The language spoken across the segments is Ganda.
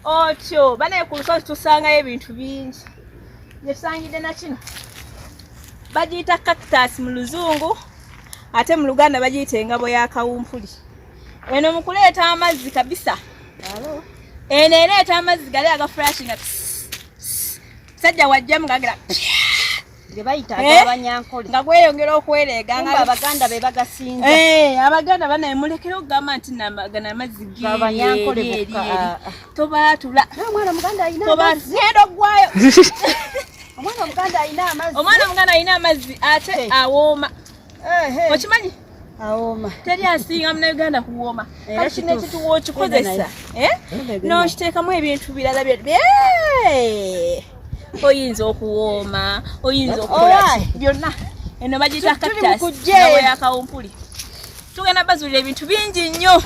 otyo banaye ku lusozi tusangayo ebintu bingi gyetutangidde nakino bagiyita cactus mu luzungu ate mu luganda bagiyita engabo ya kawumpuli eno mu kuleeta amazzi kabisa eno ereeta amazzi gali agafurashinga sajja wajjamu gagira ge bayita eh? agabanyankole nga gweyongera okwereega nga abaganda be bagasinza eh, abaganda banaye mulekere okugamba nti gana amazzi gabanyankole bokka ah, ah. tobaatula omwana muganda alina amazzi genda oggwayo omwana omuganda alina amazzi omwana omuganda alina amazzi ate eh. awooma okimanyi awooma teri asinga munauganda kuwooma kati kino ekituwa okikozesa eh? nokiteekamu ebintu birala oyinza okuwooma oyinza okukola byonna eno bagiyita katasakawumpuli tugenda bazulira ebintu bingi nnyo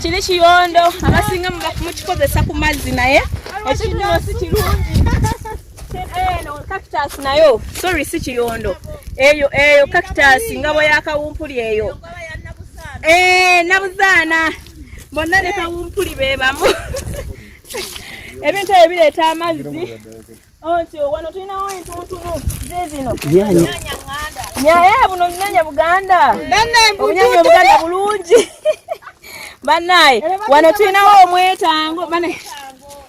kiri kiyondo abasinga mukikozesa ku mazzi naye ekinoosi kirungi eno eh, cactus nayo sorry si kiyondo eyo eyo cactus ngabo ya kawumpuli eyo eh nabuzaana bonna ne kawumpuli be bamu ebintu ebyo bireeta amazzi onti oh, wano tulinawo entuntunu zizino nyaye eh, buno bunyanya buganda obunyanya obuganda bulungi banaye wano tulinawo omwetango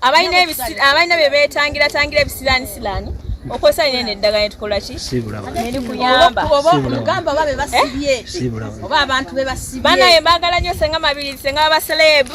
abalina abalina bye beetangira tangira ebisiraani siraani okozesa nene eddagala netukola ki nerikuyambaogamba oba bebasibye eh? oba abantu bebasibye banaye mbagala nyo senga mabiri senga baselebu